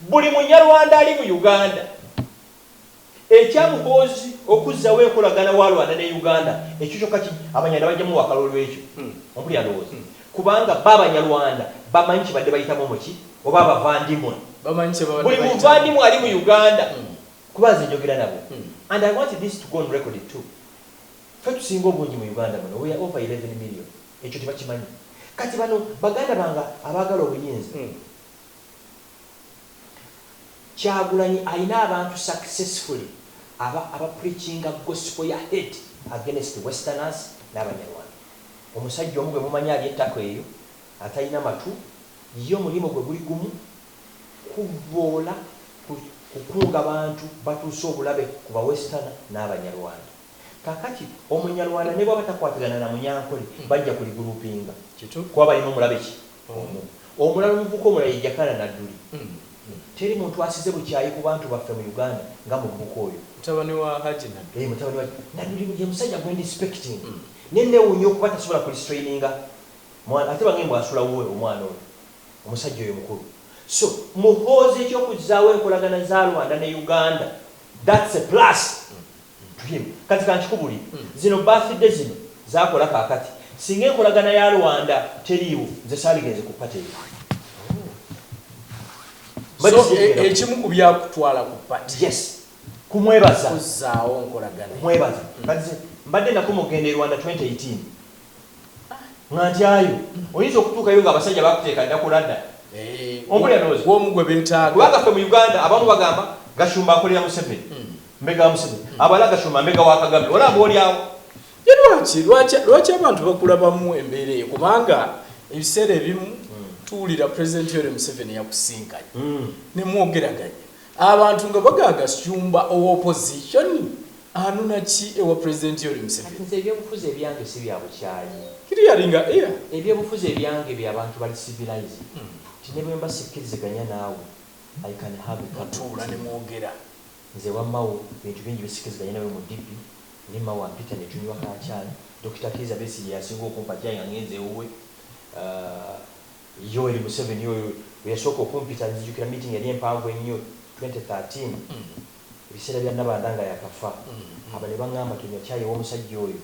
Buli munyarwanda ali mu Uganda ekya muhoozi okuzzawo enkolagana wa Rwanda ne Uganda ekyo kyokka ki abanyarwanda bajja muwa akalulu ekyo hmm. ompulira ndowooza hmm. kubanga ba abanyarwanda bamanyi kibadde bayitamu muki oba abavandimwe buli muvandimwe ali mu Uganda hmm. kuba nze njogera nabo and I want this to go on record too fe tusinga obungi mu Uganda muno we are over 11 million ekyo tebakimanyi kati bano baganda banga abagala obuyinza Kyagulanyi ayina abantu successfully aba aba preachinga gospel ya hate against westerners nabanyarwanda. Omusajja omu gwemumanyi alya ettaka eyo atalina matu ye omulimu gwe guli gumu kuvvoola ku kukunga bantu batuuse obulabe ku ba westerner nabanyarwanda. Kakati omunyarwanda nebwaba takwatigana na munyankole bajja kuli groupinga Kitufu. kuba balina omulabe ki Omu. Omulala omuvubuka omulala ye Jakana Nadduli. Teri muntu asize bukyayi ku bantu baffe mu Uganda nga muvubuka oyo. Mutabani wa Hajji Nadduli. Eeh mutabani wa Nadduli ye musajja gwe ndisipecting naye newunya okuba tasobola ku restraininga mwana ate bange mbu asula wuwe omwana oyo omusajja oyo mukulu so Muhoozi ekyokuzaawo enkolagana za Rwanda ne Uganda that's a plus. Dream kati kankikubulire zino birthday zino zakola kakati singa enkolagana ya Rwanda teriiwo nze saligenze ku party eyo So ekimu kubyakutwala ku party yes kumwebaza kuzzaawo nkolagana kumwebaza kati ze mbadde nakoma okugenda e Rwanda 2018 nga ntyayo oyinza okutuukayo nga abasajja bakuteeka dda ku ladda omu lya ndowooza omu gwe betaaga kubanga ffe mu Uganda abamu bagamba gashumba akolera Museveni Mbega wa Museveni. Abala Gashumba mbega wa Kagame. Olaba olyawo. Ye lwaki lwaki lwaki abantu bakulabamu embeera eyo kubanga ebiseera ebimu hmm. tuwulira President Yoweri Museveni yakusinkanye hmm. ne mwogeraganya abantu nga bagaa Gashumba owa opposition anuna ki ewa President Yoweri Museveni. Nze ebyobufuzi ebyange si bya bukyayi. Kiri yalinga eya. Ebyobufuzi ebyange bya bantu bali civilized. Hmm. Tinebwe mba sikkiriziganya naawe. I can have a cup. Tuula ne mwogera. Nze ewa Mao bintu bingi bisikiziganye nawe mu DP naye Mao ampita ne tunywa ka chai, Dokita Kiiza Besigye yasinga okumpa chai nga ngenze ewuwe, Yoweri Museveni yoyo eyasooka okumpita nzijukira meeting yali empanvu ennyo twenty thirteen ebiseera bya Nabanda nga yakafa aba ne bangamba tonywa chai ewomusajja oyo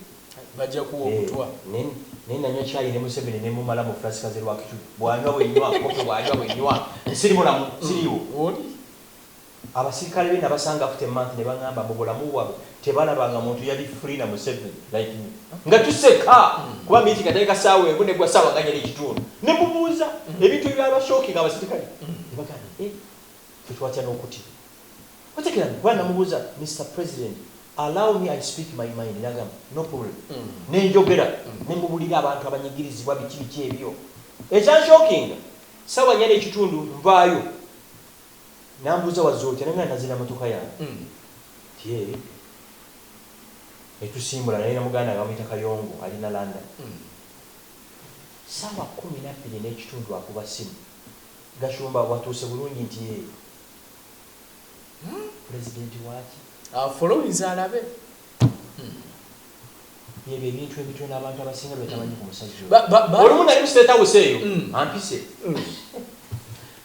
eeh naye nanywa chai ne Museveni ne mumalamu Francis Kaze Rwakicucu bwanywa bwenywa, Bboke bwanywa bwenywa, nsirimulamu, nsiriiwo. Abasirikale be nabasanga after a month nebangamba mbu bulamu bwabwe tebalaba nga muntu yali free na museven like me nga tuseka kuba meeting yatandika saawa emu negwa saawa nga nya nekitundu nemubuuza ebintu ebyaba shocking abasirikale nebagamba eeh ffe twatya nokutibwa otegeera kuba namubuuza Mister president allow me I speak my mind nagamba no problem nenjogera nemubulira abantu abanyigirizibwa biki biki ebyo ekyanshockinga saawa nya nekitundu nvaayo Nambuuza wazze otya naye nga nazze na motoka yange nti ee netusimbula naye na muganda wange bamuyita Kayongo ali na London. Ssaawa kkumi na bbiri n'ekitundu akuba ssimu, Gashumba watuuse bulungi nti ee Pulezidenti waaki? Afollowinze alabe hum. Byebyo ebintu ebitono abantu abasinga byebatamanyi ku musajja oyo. Olumu nali mu State House eyo ampise.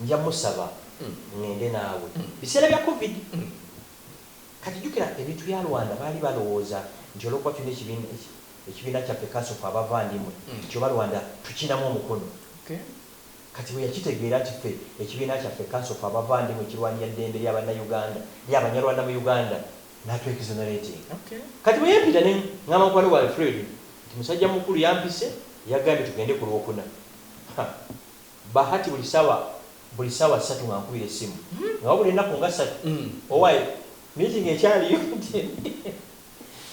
Nja musaba ngende naawe. Biseera bya covid Kati jukira ebintu bya Rwanda baali balowooza nti olwokuba tulina ekibiina ekibiina kyaffe kanso ffe abavandimwe nti oba Rwanda tukinamu omukono Kati bweyakitegeera nti ffe ekibiina kyaffe kanso ffe abavandimwe ekirwanira ddembe lya banna Uganda lya banyarwanda mu Uganda natwe exonerating Kati bweyempita ne ngamba mukwano gwange Fred nti musajja mukulu yampise yagambye tugende ku lwokuna ha! Bahati buli sawa buli sawa satu nga nkubira esimu nga wabula enaku nga satu owaye meeting ekyaliyo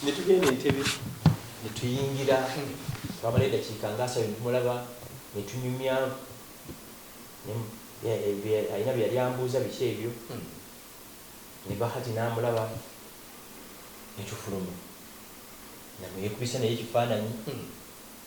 netugenda entebe netuyingira twamalayo edakiika nga asatu netumulaba netunyumya alina byeyali ambuuza biki ebyo ne Bahati namulaba netufuluma namweyekubisa naye ekifaananyi.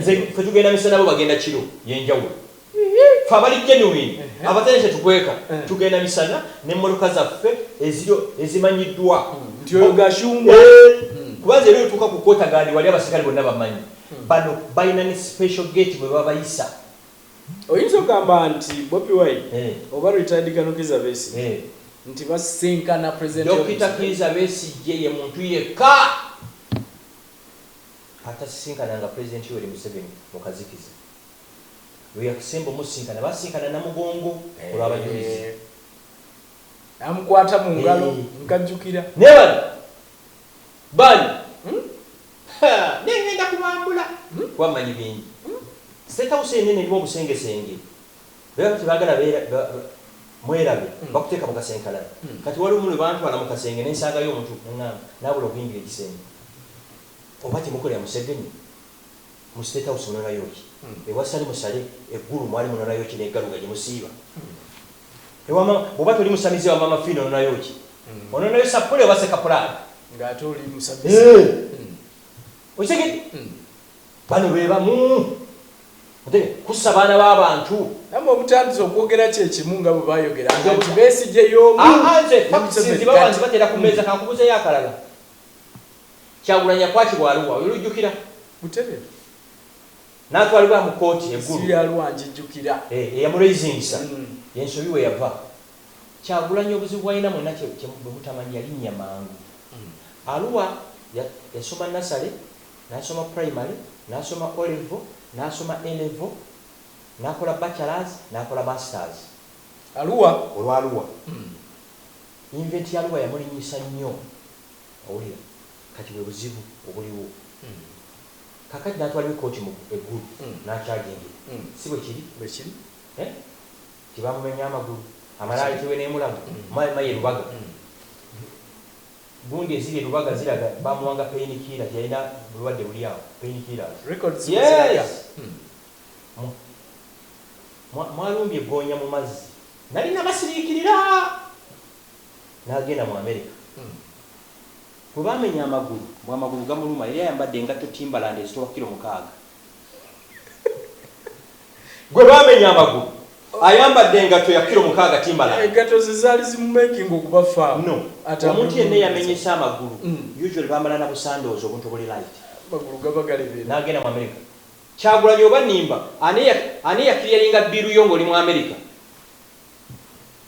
Nze fe tugenda misana bo bagenda kiro yenjawulo fe abali genuine abatali tetukweka tugenda misana ne mmotoka zaffe eziro ezimanyidwa eeh kuba nze era otuuka ku quarter guard wali abaserikale bonna bamanyi bano balina ne special gate mwebabayisa. Oyinza ogamba nti Bobi Wine oba retired Colonel Kiiza Besigye nti basisinkana president of Dokita Kiiza Besigye ye muntu yekka. Atasisinkana nga Pulezidenti Yoweri Museveni mu kazikiza. Lweyasemba omusisinkana baasisinkana Namugongo ku lw'abajulizi. Namukwata mu ngalo nkajjukira. Naye bano bali ha! Naye ngenda kubambula kuba mmanyi bingi. State House enene erimu obusengesenge. Bebano tebagala bera ba ba mwerabe bakuteka mukasenkalana kati waliwo muno bantwala mukasenge nensangayo omuntu nengamba nabula okuyingira ekisenge oba temukolera musevenyi mu state house munonayoki ewasali musale egulu mwali munonayoki negaluga jemusiiba ewa mama bwoba toli musamize ewa mama fina ononayoki ononayo sapule oba sekapulani nga ate oli musamize eeh okitegedde Bano be bamu ate kussa baana ba bantu. Namwe mutandize okwogera kyekimu nga bwebayogeranga nti Besigye y'omu ne Museveni kati. Haa nze facts nzibawa nzibatera ku meeza. Kankubuzeyo akalala, Kyagulanyi yakwatibwa Arua oyo olujjukira? Butebe. Natwalibwa mu kooti e Gulu. Essimu ya Arua njijjukira. Eeh eyamu raisingisa yensobi weyava. Kyagulanyi obuzibu bwalina mwena bwemutamanyi yalinnya mangu. Arua yasoma nasale Nasoma primary, nasoma O level, nasoma A level, nakola bachelors, nakola masters. Arua olwa Arua. Invent ya Arua yamulinyisa nnyo. Owulira? Kati bwe buzibu obuliwo. Kakati natwalibwa e kooti mu e Gulu nakyagingira. Si bwe kiri? Bwe kiri. Eh? Gye bamumenye amagulu, amala ayitibwe n'e Mulago, my, my e Lubaga. Gundi eziri e Lubaga ziraga baamuwanga pain killer teyalina bulwadde buli awo, pain killers. Records bwe ziraga. Yes! Mu, mwa, mwalumbye ggoonya mu mazzi. Nnali nnabasiriikirira! N'agenda mu Amerika. Gwe baamenya amagulu, mbu amagulu gamuluma, yali ayambadde engatto Timberland ezitowa kilo mukaaga. gwe baamenya amagulu ayambadde engatto ya kiro mukaaga timbala engatto ze zaali zimumakinga okuba faamu no omuntu yenna eyamenyese amagulu mm. usually bambala na busandoozi obuntu obuli light amagulu gaba galebera n'agenda mu amerika kyagulanyi oba nimba ani yakiriyalinga bbiiru yo ng'oli mu amerika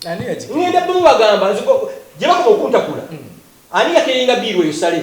ŋenda bbimu bagamba gye bakuba okuntakula mm. ani yakiriyalinga bbiiru eyo sale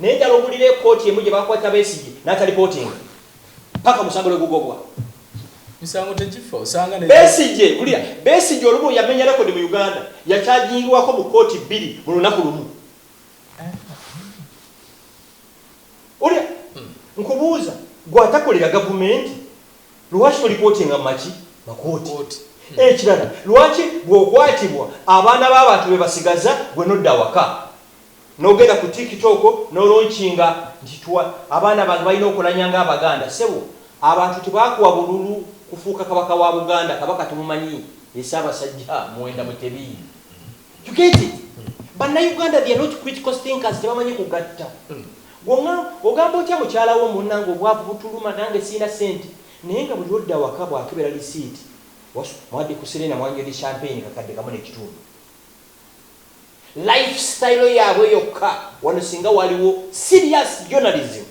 Naye njala owulire ekooti emu gyebakwata Besigye natalipootinga paka omusango lwegugobwa. Misango tegifa osanga ne. Besigye wulira Besigye olumu yamenya record mu Uganda yakyajingiwako mu kooti bbiri mu lunaku lumu. Wulira nkubuuza gwe atakolera gavumenti lwaki tolipootinga mu maki makooti. Ekirala lwaki bwokwatibwa abaana babantu bebasigaza gwe nodda awaka. Nogenda ku tiktok nolonchinga nti tuwa abaana bange balina okulanya nga abaganda sebo abantu tebakuwa bululu kufuuka kabaka wa buganda kabaka tumumanyi ye sabasajja muwenda mutebi you get it banauganda they are not critical thinkers tebamanyi kugatta gwe ogamba otya mukyala wo munange obwavu butuluma nange sirina sente naye nga buli lwodda awaka bwakebera lisiiti mwadde ku serena mwanywedde champagne kakadde kamu nekitundu life style yabwe yokka wano singa waliwo serious journalism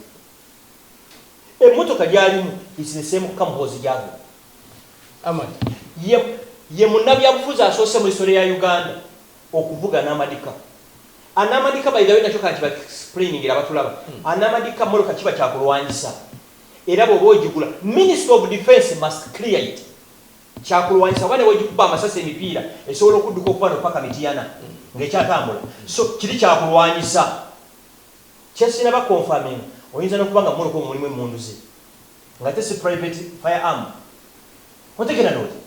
emotoka gyalimu it's the same ka muhoozi gyavuma amad ye ye munabyabufuzi asoose mu isole ya uganda okuvuga namadika anamadika by the way nakyo kanti explaining era batulaba hmm. anamadika moloka kiba kyakulwanyisa era bwoba ogigula minister of defense must clear it Kyakulwanyisa kuba newegikuba amasasi emipiira esobola okudduka okuva wano paka Mityana nga ekyatambula so kiri kyakulwanyisa. Kyesinaba confirminga oyinza nokuba nga mumoloka omwo mulimu emmundu ze nga ate si private fire arm. Otegera noti?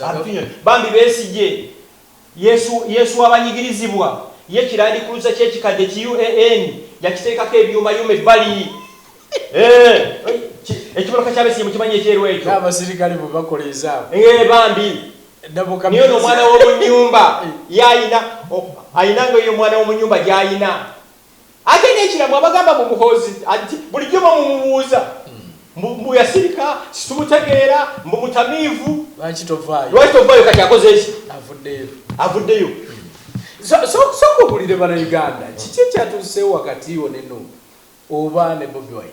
Abitunyonyo. Bambi Besigye Yesu, Yesu w'abanyigirizibwa, ye kirandikuluze ky'ekikadde ki UAN, yakiteekako ebyumayuma ebbali. Eh, ekibaloka ky'abesiye mukimanyi ekyeru ekyo. N'abasirikale bwe bakola ezaabwe. Eh, bambi. Naye ono omwana w'omu nnyumba y'alina, alina nga eyo omwana w'omu nnyumba gy'alina. Ate nekira mwe abagamba mbu muhoozi anti bulijjo mwe mumubuuza mbu mbu yasirika situmutegeera mbu mutamiivu Lwaki tovaayo? lwaki tovaayo kati akozeeki Avuddeyo. avuddeyo So- so- Sooka obulire bana Uganda kiki ekyatuuseewo wakati wo ne Nup oba ne Bobi Wine?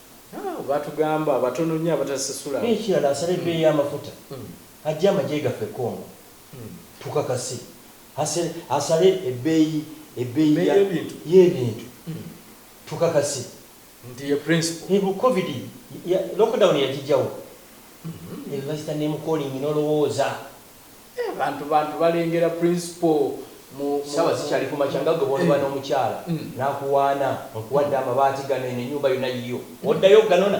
Haa batugamba batono nnyo abatasasula. Nekirala asala ebbeeyi y'amafuta ajje amagye gaffe e Congo tukakase. Asale ebbeeyi ebbeeyi y'ebintu tukakase. Nti ye principle. Ebu covid lockdown yagijawa? Ebu bayita name calling nolowooza. Ehh bantu bantu balengera principal mu mu Sawa zikyali kumakya nga gwe bwoliba nomukyala nakuwaana nkuwadde amabaati gano eno enyumba yona yiyo oddayo oganona?